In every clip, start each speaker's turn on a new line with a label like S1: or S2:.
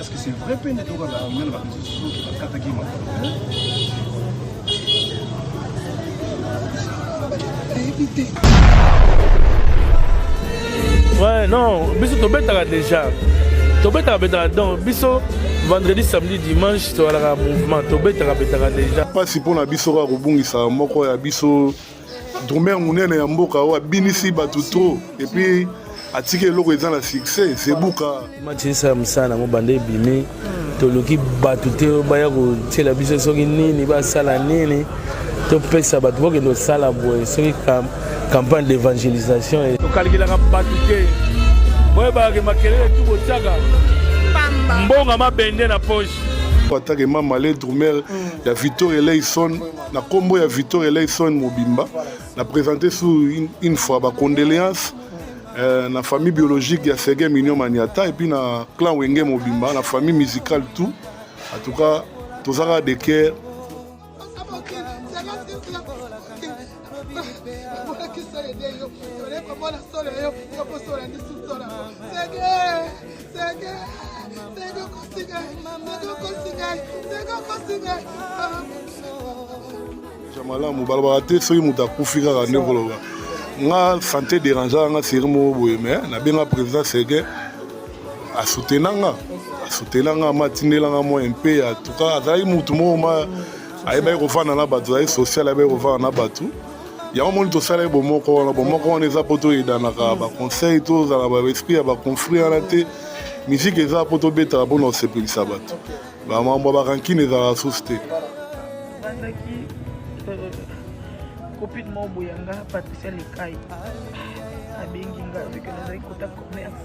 S1: Est-ce que c'est vrai peine
S2: de la armée la constitution qui va attaquer ma Éviter. Ouais, non, biso tobetaka déjà. Tobetaka betaka donc biso vendredi samedi dimanche tozalaka mouvement tobetaka betaka déjà. Pasi mpo na biso
S3: kaka kobungisa moko ya biso drumeur munene ya mboka oyo abinisi bato trop epuis atiki eloko eza na succès sebuka matinisa ya mosala
S2: nango banda ebimi toluki bato te baya kotiela biso soki nini basala nini topesa bato bokende kosala boye soki campagne d'évangélisation e- tokalkelaka bato te boyebakake makelele tu botiaka mbonga mabende na poche atake mama
S3: le drumeur ya victor eleison na kombo ya Victor Eleison mobimba na présenter sous une, une fois ba condoléances euh, na famille biologique ya Serge Mignon Maniata et puis na clan Wenge mobimba na famille musicale tout en tout cas tozaka de cœur malamu balobaka te soki moto akufi kaka nde koloba nga sante dérangeaka nga seri moko boye me nabenga président serge asutena nga asutena nga matindela nga mwa mpe ya tuka azalaki motu moko ma ayebaki kofanda na bato azalaki social ayebaki kofanda na bato yango moni tosala ye bomoko wana bomoko wana eza mpo toyedanaka baconseil tozala baesprit ya baconflit wana te miziki eza mpo tobetaka mpona kosepelisa bato bamambo ya bakankine ezalaka susu te copine
S4: euh, moko boya nga patricia lekai abengi nga veke nazali kota commerce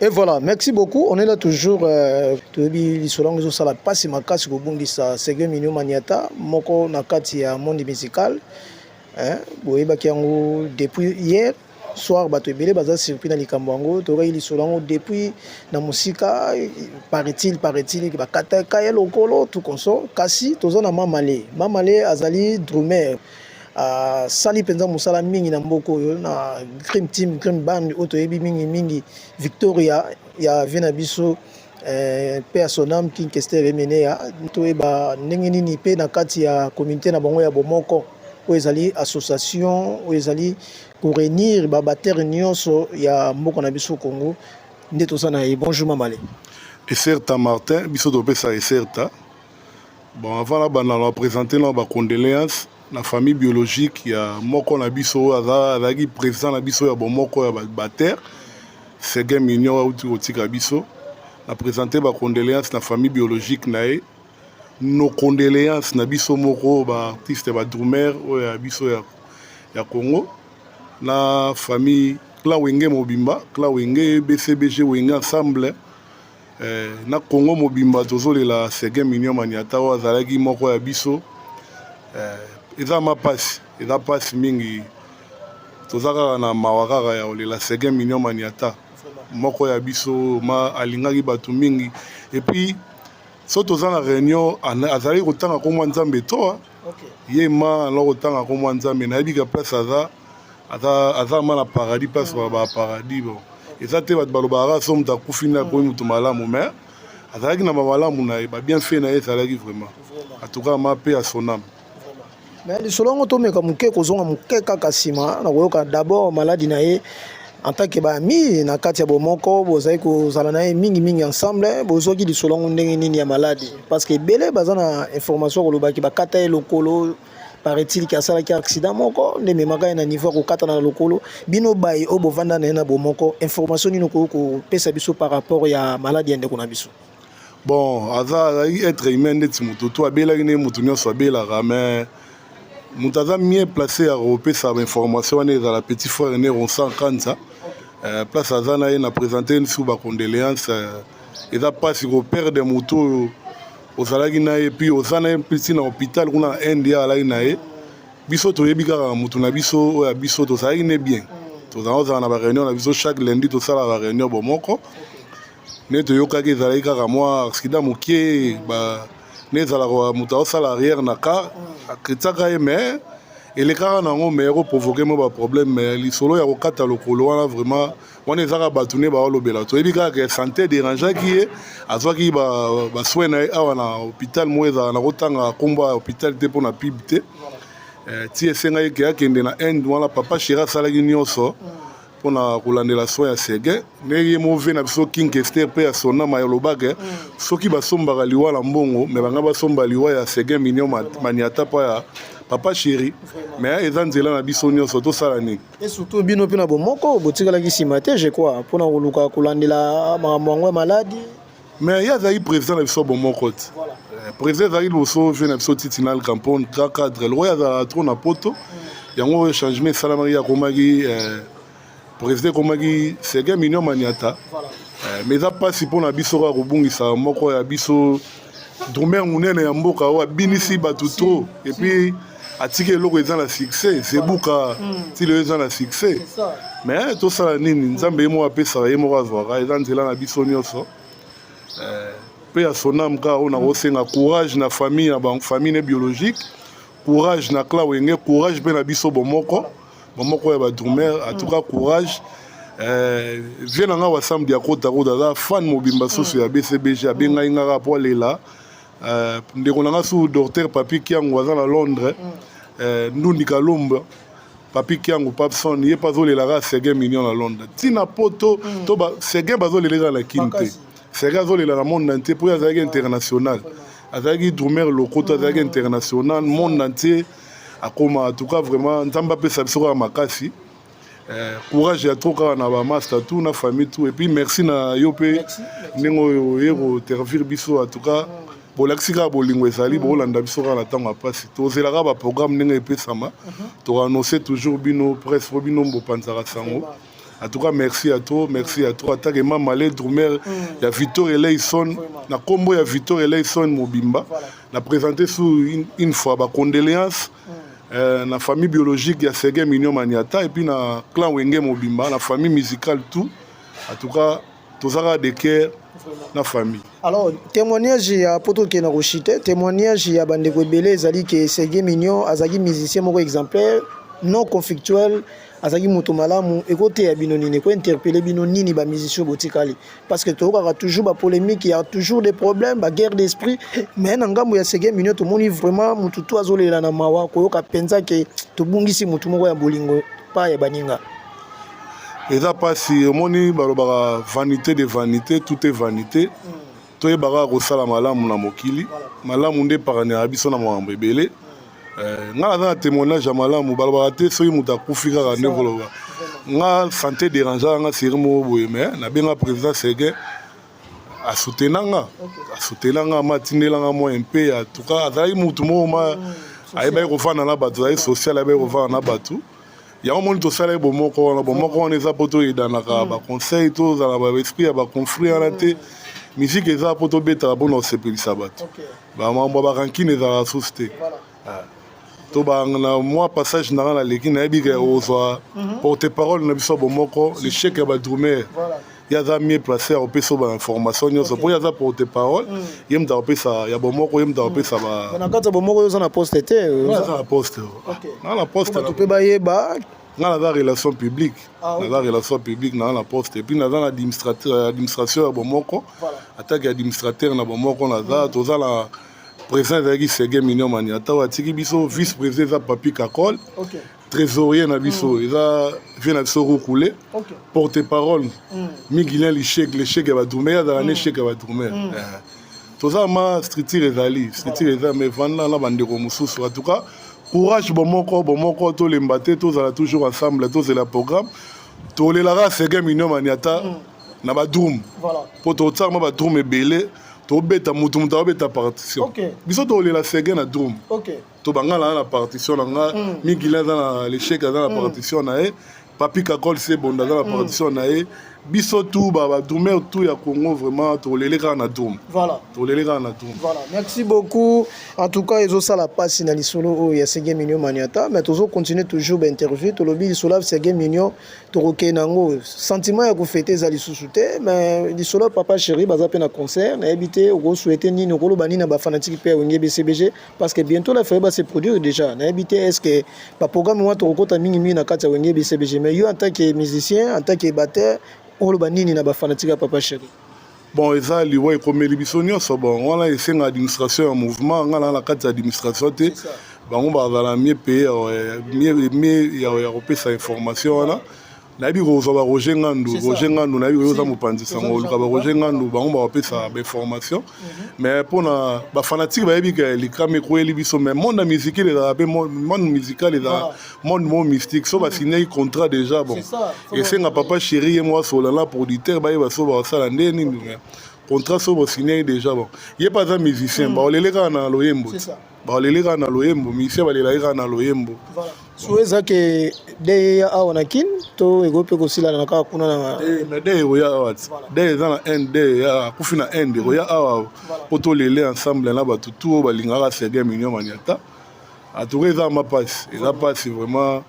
S5: Et voilà, merci beaucoup. On est là toujours. Euh, toyebi lisolo yango ezosala mpasi makasi kobungisa Serge Mignon Maniata moko na kati ya monde musical eh, boyebaki yango depuis hier soir bato ebele baza surpris na likambo yango toyokaki lisolo yango depuis na mosika paraît-il paraît-il bakataka ye lokolo tout consort kasi toza na mamale mamale azali drumer asali mpenza mosala mingi na mboka oyo na crime team crime band oyo toyebi mingi mingi victoria ya vie na biso Eh, mpe ya sonam king kester emeneya toyeba ndenge nini mpe na kati ya communauté na bango ya bomoko oyo ezali association oyo ezali korenir babatere nyonso ya mboka na biso congo nde toza na ye bonjour mamale eserta
S3: martin biso topesa eserta bon avant na banda na bapresente na bacondoléance na famille biologique ya moko na biso oyo azalaki président na biso ya bomoko ya bater sege mignon auti kotika biso na présente bacondoléance na famille biologique na ye nos condoléances na biso moko ba artiste ba drummer oyo ya biso ya, ya congo na famille clan wenge mobimba clan wenge bcbg wenge ensemble Eh, na Congo mobimba tozolela Seguin Mignon Maniata oyo azalaki moko ya biso eh, eza ma pasi eza pasi mingi toza kaka na mawa kaka ya kolela Seguin Mignon Maniata moko ya biso ma alingaki bato mingi epuis so toza na réunion azalaki kotanga nkombo ya nzambe toa ye ma na kotanga nkombo ya nzambe nayebi ka place aza aza ma na paradis place mm. ba paradis bon eza te bato balobaka so moto akufi nde akomi moto malamu mais azalaki na bamalamu na ye babien fait na ye ezalaki vraiment atuka ma mpe ya soname mais lisolo
S5: yango tomeka moke kozonga moke kaka nsima na koyoka d'abord maladi na ye en tant que baami na kati ya bomoko bozali kozala na ye mingimingi ensemble bozwaki lisolo yango ndenge nini ya maladi parce que ebele baza na information ya kolobaki bakata ye lokolo paraît-il ke asalaki accident moko nde ememaka ye na niveau ya kokatana na lokolo bino baye oyo bovanda na ye na bomoko information nini okoki kopesa biso par rapport ya maladi ya ndeko na biso bon
S3: aza azalaki être humain ndeti moto to abelaki ndenge moto nyonso abelaka mais moto aza mieux placé ya kopesa bainformation wana ezala petit frère ne ronsan kanza euh, place aza na ye na présente lisusu bacondoléance euh, eza mpasi koperde moto oyo ozalaki na ye puis oza na ye mpesi na hôpital kuna na inde ye alaki na ye biso toyebi kaka moto na biso oyo ya biso tozalaki ne bien tozala ozala na bareunion na biso chaque lundi tosalaka bareunion bomoko nde toyokaki ezalaki kaka mwa aksida moke nde ezalaka moto aosala arrière na car akritisaka ye mais elekaka na yango mais ekoprovoke mwa baproblème mais lisolo ya kokata lokolo wana vraiment wana ezaka bato nde baolobela toyebi kaka ke santé dérangeaki ye azwaki basoin na ye awa na hôpital moko ezala na kotanga nkombo ya hôpital te mpo na pib te eh, ti esengaki ke akende na inde wana papa shera asalaki nyonso mm. mpo na kolandela soin ya sege ndenge ye move na biso king kester mpe ya sonama ya lobake mm. soki basombaka liwa na mbongo me banga basomba liwa ya sege minio maniata mpo ya papa chéri me eza nzela na biso nyonso tosala nini e surtout bino mpe na
S5: bomoko botikalaki nsima te je crois mpo na koluka kolandela makambo yango ya maladi mais ye azalaki
S3: président na biso bomoko ti eh, président ezalaki liboso vie na biso titinal campone ka cadre lokola azalaka trop na poto mm. yango changement esalamaki ye akomaki eh, président ekomaki sege minio maniata eh, mais eza mpasi mpo na biso kaka kobungisa moko ya biso drumeur monene ya mboka oyo abinisi bato trop epuis si. atika eloko eza na succès sebuka hmm. ti lelo eza na succès mais tosala nini nzambe ye moko apesaka ye moko azwaka eza nzela na biso nyonso mpe eh, ya sonam kaka oyo nakosenga courage na famille ya bango famille ne biologique courage na cla wenge courage mpe na biso bomoko bomoko ya badrumer atuka hmm. courage eh, vie na ngai wasamdi akotakoda aza fan mobimba susu ya bcbg abengai ngaka mpo alela Euh, ndeko na nga su docteur papi kiango aza na londres mm. euh, ndundi kalomba papi kiango papson ye mpe azolelaka seguin million na londres ntina poto mm. to seguin bazoleleka na kin te seguin azolela na monde entier mpo ye azalaki international azalaki drumer lokoto azalaki mm. international monde entier akoma en tout cas vraiment nzambe apesa biso kaka makasi Eh, courage ya trop kaka na bamasta tout na famille tout epuis merci na yo mpe ndenge oyo oye kotervire biso en tout cas bolakisi kaka bolingo ezali mm. bokolanda biso kaka na ntango ya mpasi tozelaka baprogramme ndenge epesama mhm. toannonce toujours bino presse mpo bino bopanzaka sango en tout cas merci ya trop merci ya trop atake mama le drumer mm. ya victor eleison na nkombo ya victor eleison mobimba na présente sous une fois bacondoléance Euh, na famille biologique ya Sege Mignon Maniata et puis na clan Wenge mobimba na famille musicale tout en tout cas tozaka de cœur na famille alors témoignage
S5: ya poto ke na koshite témoignage ya bandeko ebele ezali ke Sege Mignon azalaki musicien moko exemplaire non conflictuel azalaki moto malamu ekoteya bino nini ekointerpele bino nini bamusicien botikali parce que toyokaka toujours bapolemique ya toujours des problèmes baguerre d'esprit mais na ngambo ya sege minio tomoni vraiment motu to azolela na mawa koyoka mpenza ke tobungisi motu moko ya bolingo pa ya baninga
S3: eza mpasi omoni balobaka vanité de vanité tout est vanité toyebaka kosala malamu na mokili malamu nde epakanaka biso na makambo ebele Eh, nga naza na témoignage ya malamu balobaka te soki moto akufi kaka nde koloba nga santé dérangea nga seri moko boye mai nabenga président serge asutena nga asutena nga ma atindela nga mwa mpe ya tuka azalaki motu moko ma mm, ayebaki kofanda na bato azalaki social ayebaki kofanda na bato yango moni tosalaki bomoko wana bomoko wana eza mpo toyedanaka mm. baconseil tozala baesprit ya baconflit wana te mm. miziki eza mpo tobetaka mpo na kosepelisa bato ba mambo ba rancune ezalaka susu te ah. to na mwa passage na nga naleki nayebi ke ozwa mhm. porte parole na biso bomoko l'échec ya badrumer ye aza mieux place ya kopesa yo bainformation nyonso mpo ye aza porte parole mm. ye moto akopesa ya bomoko ye moto akopesa mm. na kati ya bomoko yo oza
S5: na poste te oza na poste
S3: na na poste mpe bayeba
S5: nga naza relation
S3: publique ah, okay. naza relation publique naza na poste epuis naza na administration ya bomoko voilà. atake ya administrateur na bomoko naza mm. toza na président ezalaki sege minion maniata oyo atiki biso vice président eza papi kakol okay. trésorier na biso mm. eza vie na biso rukule okay. porte parole mm. migilin lishek leshek ya badrumer azala mm. na eshek ya badrumer mm. eh. toza ma structure ezali structure eza mais vanda na bandeko mosusu en tout cas courage bomoko bomoko tolemba te tozala toujours ensemble tozela programme tolelaka sege minomani ata mm. na badrum mpo totiaka mwa badrum ebele tobeta motu motu abeta partition biso tolela sege na drum tobanga na na partition na nga mm. migila aza na lechec aza na mm. partition na ye papi kakol sebonda aza na mm. partition na ye biso tu badrumer tu ya congo vraiment tolele kaka na drum voilà. tolele kaka na drum voilà.
S5: merci beaucoup en tout cas ezosala mpasi na lisolo oyo ya sege mignon maniata mais tozo continue toujours bainterview tolobi lisolo ya sege mignon tokokei na yango sentiment ya kofete eza lisusu te mais lisolo ya papa chéri baza mpe na concert nayebi te okosouete nini okoloba nini na bafanatike mpe ya wenge bcbg parce que bientôt la ferre va se produire déjà na habité est-ce que ba programme moi tokokota mingi mingi na kati ya wenge BCBG mais yo en tant que musicien en tant que batteur oloba nini na ba fanatique ya papa chéri bon eza
S3: liwa ekomeli biso nyonso bon wana esenga administration ya mouvement ngai naa na kati ya administration te bango bazala mie paye ya kopesa information wana nayebi kozwa ba roger ngandu roger ngandu nayebi oyo oza mopanzi sango oluka ba roger ngandu bango bakopesa bainformation mhm. mais mpona bafanatike bayebi ke likama ekweli biso mais monde ya musike ezalaka mpe monde musical ezalaka monde mo mystique so mhm. basignaki contrat déjà bon esenga papa chéri ye mwa solana producteur bayeba so bakosala nde nini contrat so bosignaki déjà bon ye mpe aza musicien mhm. baolele kaka na loyembo baleli kaka na loyembo musicien balelaki kaka na loyembo so eza
S5: ke de ya awa na kin to ekoki mpe kosilana na kaka kuna na eh, mais de ekoya awa
S3: ti de eza na inde de ya akufi na inde ekoya awa mpo tolele ensemble na bato tu oyo balingaka serge mignon maniata atuka eza ma mpasi eza mpasi vraiment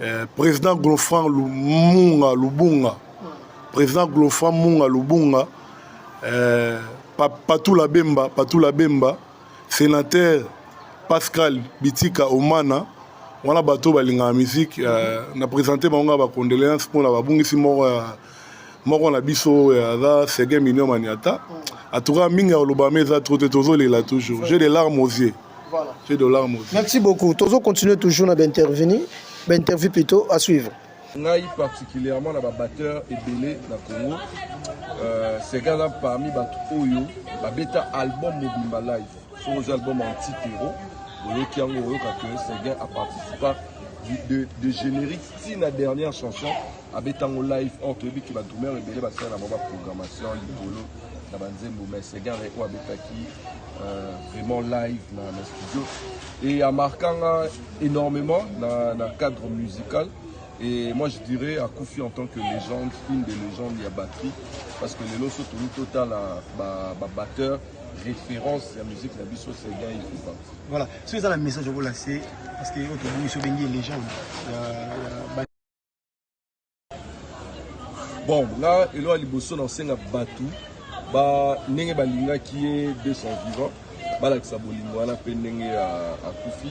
S3: Eh, président Glofran Lumunga Lubunga, président Glofran Munga Lubunga, eh, Patou Labemba, Patou Labemba, sénateur Pascal Bitika Omana, wana bato balingaka musique eh, na présente bango ba condoléances mpo na babungisi moko ya moko na biso oyo aza sege minio maniata atuka mingi ya kolobama eza trop te tozolela toujours j'ai des larmes aux yeux voilà. j'ai des larmes
S5: aux yeux merci
S3: beaucoup tozo continuer
S5: toujours na baintervenu bainterview plutôt à suivre ngai
S6: particulièrement na babatteur ebele na congo euh, sege aza parmi bato oyo babeta album mobimba live so oza album antitero oyoki yango oyoka ke sege aparticipa de, de générique ti na dernière chanson abeta ngo live or toyebi ke badrumeur ebele basala na bango baprogrammation likolo na banzembo mais segar oyo abetaki euh, vraiment live na, na studio et amarka nga énormément na, na cadre musical et moi je dirais akufi en tant que légende une des légendes ya batterie parce que lelo so tolu totala babatteur ba, ba référence ya musique na biso segar ifupa voilà soki eza na
S1: message okolase parce que oyo tobongi so bengi légende ya, ya
S6: bon nga elo ya liboso na kosenga bato ba ndenge balingaki ye de son vivant balakisa bolingo wana mpe ndenge akufi